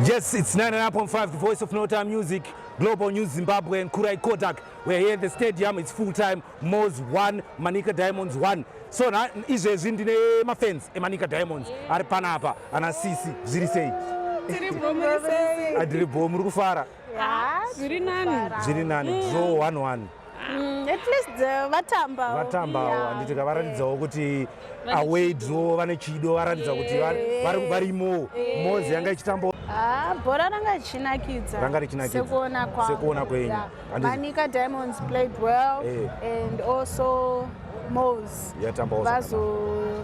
Yes, it's 99.5, the voice of no time music, Global News Zimbabwe and Kurai Kodak. We're here at the stadium, it's full time, Moz 1, Manica Diamonds 1. So na izvezvi ndine mafans eManica Diamonds ari panapa, ana sisi, zviri sei? Adiri bho, muri kufara? Ah, zviri nani zviri nani mm. draw one one mm, at least uh, vatamba vatamba awo handiti ka varatidzawo kuti away draw vane chido varatidza kuti varimo mozi yanga ichitambawo ah, bhora ranga richinakidza ranga richinakidza sekuona kwangu sekuona kwenyu manika diamonds played well eh. and also mozi yatamba vazo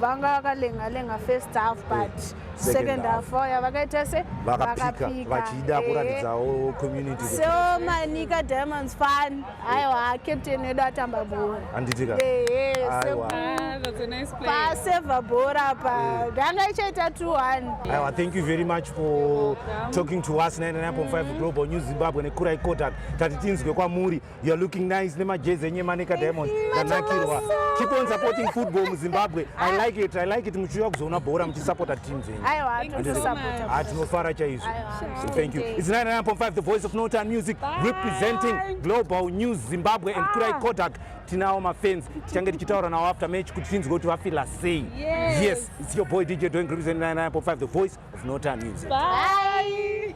vanga vakalenga lenga first half but eh. second half vaya vakaita se vakapika vachida kuratidzawo community so manika diamonds fan aiwa captain wedu atamba bhora handitika paseva bhora pa ndanga eh. ichaita 21 aiwa thank you very much for talking to us 99.5 global news zimbabwe nekurai kodak tati tinzwe kwamuri You are looking nice nemajezi enye Manica Diamond ndanakirwa. Keep on supporting football muZimbabwe. I like it. I like it muchiuya kuzoona bhora muchisupporta teams enyu. Aiwa tinosupporta. Ah tinofara chaizvo. Thank you. It's 99.5 the voice of Northern Music Bye. representing Global News Zimbabwe and ah. Kurai Kodak. Tinawo mafans tichange tichitaura nawo after match kuti tinzwe kuti vafila sei. Yes. yes, it's your boy DJ doing representing 99.5 the voice of Northern Music. Bye.